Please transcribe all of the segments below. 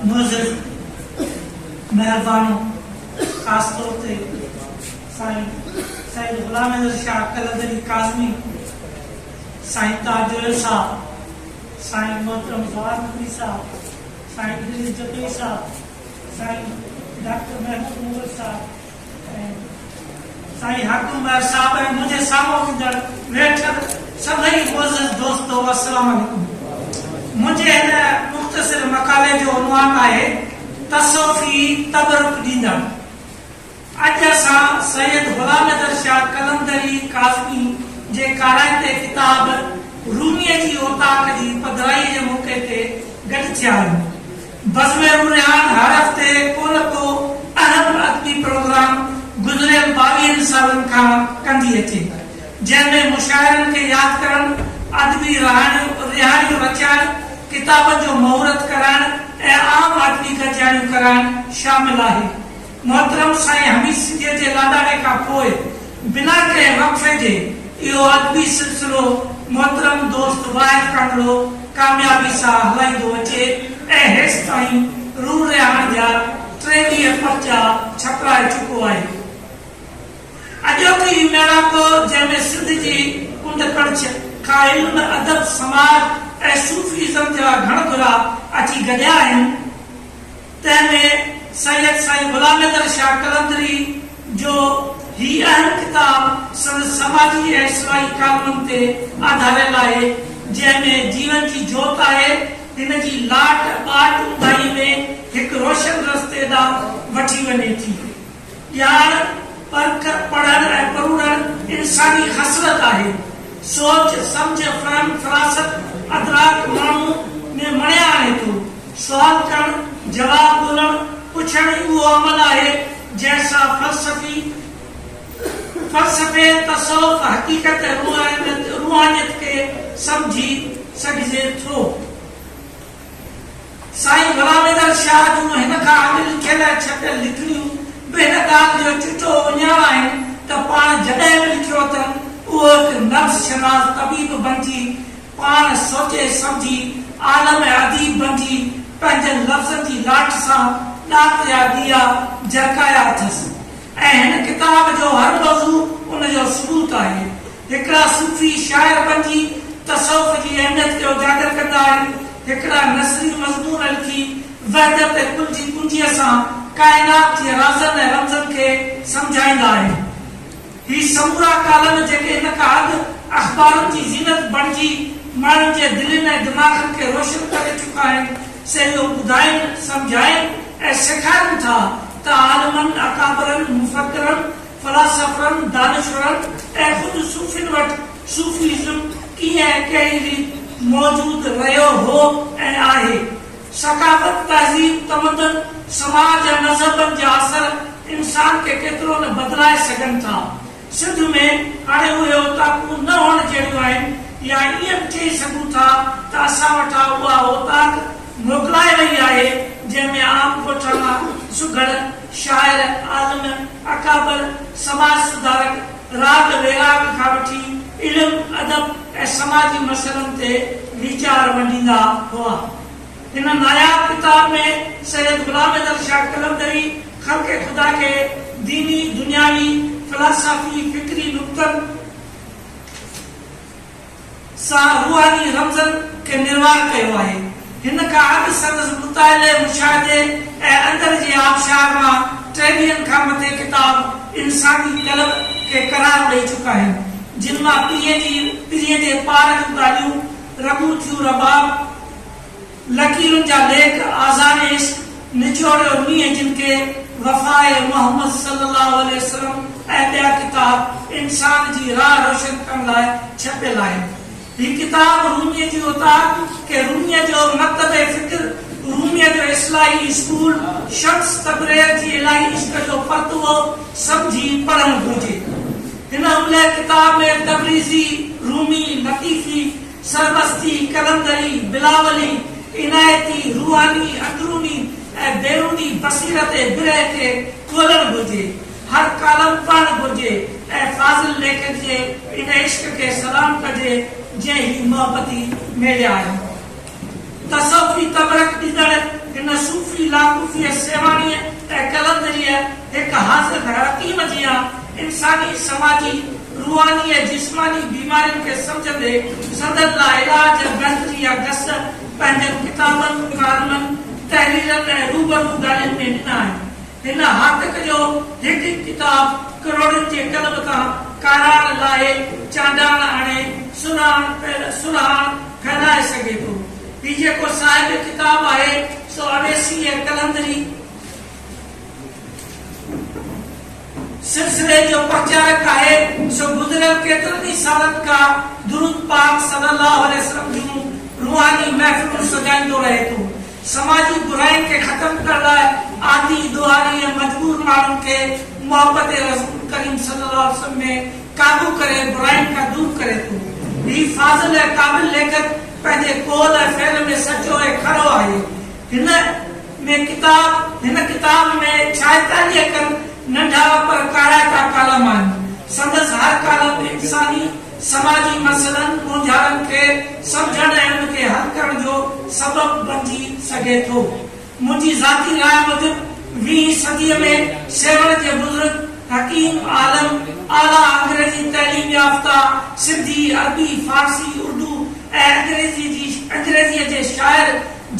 نوظر مهربانو خاص طور تي سائين سيد غلام حيدر شاهه قلندري ڪاظمي سائين تاج ايل صاحب سائين محترم جواهر نقوي صاحب سائين ادريس جتوئي صاحب سائين ڊاڪٽر محبوب مغل صاحب سائين حق عمر صاحب ۽ منهنجي سامهون ايندڙ ويٺل سڀئي معزز دوستو السلام عليڪم منهنجي هن مختصر مقالي جو عنوان آهي تصوفي تبرڪ ڏيندڙ اڄ اسان سيد غلام حيدر شاهه قلندري ڪاظمي جي ڪارائتي ڪتاب روميء جي اوطاق جي پڌرائيء جي موقعي تي گڏ ٿيا آهيون بزم رونهان هر هفتي ڪو نه ڪو اهم ادبي پروگرام گذريل ٻاويهن سالن کان ڪندي اچي، جنهن ۾ مشاعرن کي ياد ڪرڻ، ادبي رهاڻيون رهاڻيون رچائڻ، ڪتابن جو مهورت ڪرائڻ ۽ عام ادبي گڏجاڻيون ڪرائڻ شامل آهي. محترم سائين حميد سنڌيء جي لاڏاڻي کان پوء بنا ڪنهن وقفي جي اهو ادبي سلسلو محترم دوست واحد ڪانگڙو ڪاميابي سان هلائيندو اچي ۽ هيستائين روح رهاڻ جا ٽيويهه پرچا ڇپرائي چڪو آهي. اڄوڪي هي ميڙاڪو جنهن ۾ سنڌ جي ڪنڊ ڪڙڇ کان علم، ادب، سماج ۽ صوفي ازم جا گهڻ گهرا اچي گڏيا آهن، تنهن ۾ سيد سائين غلام حيدر شاهه قلندري جو هي اهم ڪتاب سندس سماجي ۽ اجتماعي ڪالمن تي آڌاريل آهي، جنهن ۾ جيون جي جوت آهي، هن جي لاٽ ٻاٽ اونڌاهي ۾ هڪ روشن رستي ڏانهن وٺي وڃي ٿي. پيار، پرک، پڙهڻ ۽ پروڙڻ انساني خصلت آهي. سوچ، سمجھ، فهم، فراست، ادراڪ ماڻهوء ۾ مڻيا آڻي ٿو. سوال ڪرڻ، جواب ڳولڻ، پڇڻ ئي اهو عمل آهي، جنهن سان فلسفي، فلسفي، تصوف، حقيقت ۽ روحانيت کي سمجهي سگهجي ٿو. سائين غلام حيدر شاهه جون هن کان اڳ لکيل ۽ ڇپيل لکڻيون به هن ڳالهه جو چٽو اهڃاڻ آهن ته پاڻ جڏهن به لکيو اٿن، اهو هڪ نفس شناس طبيب بڻجي، پاڻ سوچي سمجهي عالم ۽ اديب بڻجي، پنهنجن لفظن جي لاٽ سان ڏات جا ڏيئا جرڪايا اٿس ۽ هن ڪتاب جو هر موضوع ان جو ثبوت آهي. هڪڙا صوفي شاعر بنجي تصوف جي اهميت کي اجاگر ڪندا آهن، هڪڙا نثري مضمون لکي وحدت ڪل جي ڪنجيء سان ڪائنات جي رازن ۽ رمزن کي سمجهائيندا آهن. هي سمورا ڪالم جيڪي هن کان اڳ اخبارن جي زينت بڻجي ماڻهن جي دلين ۽ دماغن کي روشن ڪري چڪا آهن، سي اهو ٻڌائين، سمجهائين ۽ سيکارين ٿا ته عالمن، اڪابرن، مفڪرن، فلاسافرن، دانشورن ۽ خود صوفين وٽ صوفيزم ڪيئن ۽ ڪهڙي ريت موجود رهيو هو ۽ آهي. ثقافت، تهذيب، تمدن، سماج ۽ مذهبن جا اثر انسان کي ڪيترو نه بدلائي سگهن ٿا. سنڌ ۾ هاڻي اهي اوطاقون نه هئڻ جهڙيون آهن يا ائين به چئي سگهون ٿا ته اسان وٽان اها اوطاق موڪلائي وئي آهي جنهن ۾ عام ڳوٺاڻا، سگهڙ، شاعر، عالم، اڪابر سماج سڌارڪ راڳ ويراڳ کان وٺي علم، ادب ۽ سماجي مسئلن تي ويچار ونڊيندا هئا. هن ناياب ڪتاب ۾ سيد غلام حيدر شاهه قلندري خلق خدا کي ديني، دنياوي، فلاسافي، فڪري نقطن، سان روحاني رمزن کي نروار ڪيو آهي. هن کان اڳ سندس مطالعي، مشاهدي ۽ اندر جي آبشار مان ٽي ويهن کان مٿي ڪتاب انساني قلب کي قرار ڏئي چڪا آهن، جن مان پرينء جي پرينء جي پار جون ڳالهيون، رڳون ٿيون رباب، لڪيرن جا ليک، آزار عشق، نچوڙيو مينهن جن کي، وفاء محمد صلي الله عليه وسلم ۽ ٻيا ڪتاب انسان جي راهه روشن ڪرڻ لاء ڇپيل آهن. هي ڪتاب روميء جي اوطاق ڪي روميه جو مڪتب فڪر، روميء جو اصلاحي اسڪول، شمس تبرير جي الٰهي عشق جو پرتوه سمجهي پڙهڻ گهرجي. هن املهه ڪتاب ۾ تبريزي، رومي، لطيفي، سرمستي، قلندري، بلاولي، عنايتي، روحاني، اندروني ۽ بيروني بصيرت ۽ برهه کي کولڻ گهرجي. هر ڪالم پڙهڻ گهرجي ۽ فاضل ليکڪ جي ان عشق کي سلام ڪجي جنهن هي محبتي ميڙيا آهن. تصوفي تبرڪ ڏيندڙ هن صوفي لاڪوفيء سيوهاڻيء ۽ قلندريء هڪ حاضر حياتيم جيان انساني، سماجي، روحاني ۽ جسماني بيمارين کي سمجهندي سندن لاء علاج ۽ بهتري جا گس پنهنجن ڪتابن، ڪالمن، تحريرن ۽ روبرو ڳالهين ۾ ڏنا آهن. هن هاتڪ جو هڪ هڪ ڪتاب ڪروڙين جي قلم تان ڪاراڻ لاهي، چانڊاڻ آڻي، سرهاڻ پير سرهاڻ ڦهلائي سگهي ٿو. هي جيڪو صاحب ڪتاب آهي، سو اويسيء قلندري سلسلي جو پرچارڪ آهي، سو گذريل ڪيترن ئي سالن کان درود پاڪ صلي الله عليه وسلم جون روحاني محفلون سجائيندو رهي ٿو. سماجي براين کي ختم ڪرڻ لاء عادي، ڏوهاري ۽ مجبور ماڻهن کي محبت رسول ڪريم صلي الله عليه وسلم ۾ قابو ڪري براين کان دور ڪري ٿو. هي فاضل ۽ قابل ليکڪ پنهنجي قول ۽ فعل ۾ سچو ۽ کرو آهي. هن ۾ ڪتاب هن ڪتاب ۾ ڇائيتاليهه کن ننڍا پر ڪارائتا ڪالم آهن. سندس هر ڪالم انساني. سماجي مسئلن مونجهارن کي سمجهڻ ۽ ان کي حل ڪرڻ جو سبب بنجي سگهي ٿو. منهنجي ذاتي راء موجب ويهين صديء ۾ سيوهڻ جي بزرگ، حڪيم، عالم، اعليٰ انگريزي تعليم يافته، سنڌي، عربي، فارسي، اردو ۽ انگريزي جي انگريزيء جي شاعر،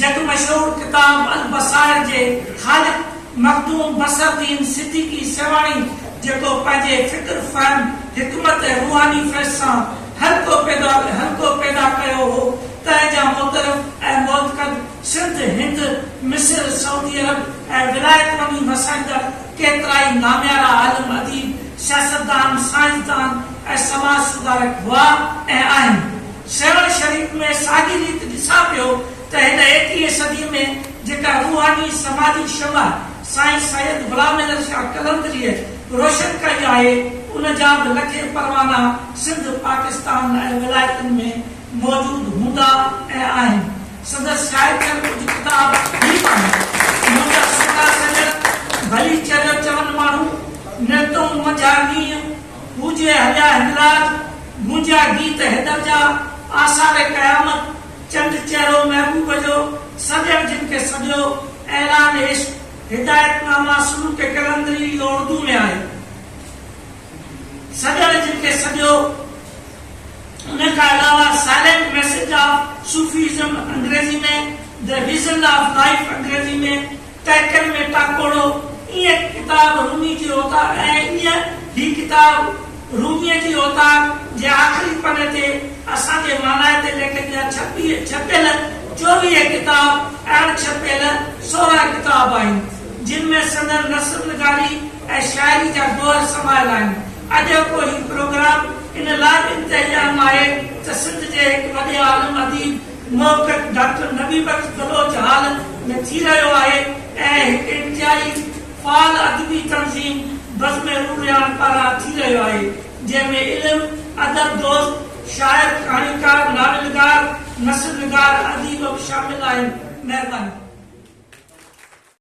جڳ مشهور ڪتاب البصائر جي خالق، مخدوم بصرالدين صديقي سيوهاڻي جيڪو پنهنجي فڪر، فهم، حڪمت ۽ روحاني فيض سان حلقو پيدا حلقو پيدا ڪيو هو، تنهن جا مترف ۽ معتقد سنڌ، هند، مصر، سعودي عرب ۽ ولايت وڃي وسائيندڙ ڪيترائي ناميارا عالم، اديب، سياستدان، سائنسدان ۽ سماج سڌارڪ هئا ۽ آهن. سيوهڻ شريف ۾ ساڳي ريت ڏسان پيو ته هن ايڪويهين صدي ۾ جيڪا روحاني سماجي شمع سائين سيد غلام احمد شاهه قلندريء روشن ڪئي آهي، ان جا به لکين پروانا سنڌ، پاڪستان ۽ ولايتن ۾ موجود هوندا ۽ آهن. سندس شايع ٿيل ڪجهه ڪتاب هي به آهن، منهنجا سڪا سڄڻ، ڀلي چريو چون ماڻهو، نرتون منجها نينهن، هو جي هليا هنراج، گونجيا گيت حيدر جا، آثار قيامت، چنڊ چهرو محبوب جو، سڄڻ جن کي سڏيو، اعلان عشق، هدايت نامه سلوڪ قلندري اهو اردو ۾ آهي. سڄڻ جن کي سڏيو، ان کان علاوه Silent Message of Sufism انگريزي ۾، The Reason of Life انگريزي ۾، تحقيق ۾ ٽاڪوڙو ايئن ڪتاب رومي جي اوطاق ۽ ايئن هي ڪتاب روميء جي اوطاق جي آخري پني تي اسان جي مانائتي ليکڪ جا ڇپي ڇپيل چوويهه ڪتاب ۽ اڻ ڇپيل سورهن ڪتاب آهن، جن ۾ سندن نثر نگاري ۽ شاعري جا گوهر سمايل آهن. اڄوڪو هي پروگرام ان لاء به انتهائي اهم آهي ته سنڌ جي هڪ وڏي عالم، اديب، محقق ڊاڪٽر نبي بخش بلوچ هال ۾ ٿي رهيو آهي ۽ هڪ انتهائي فعال ادبي تنظيم بزم عروريان پاران ٿي رهيو آهي، جنهن ۾ علم، ادب دوست، شاعر، ڪهاڻيڪار، ناولگار، نثرنگار، اديب به شامل آهن. مهرباني.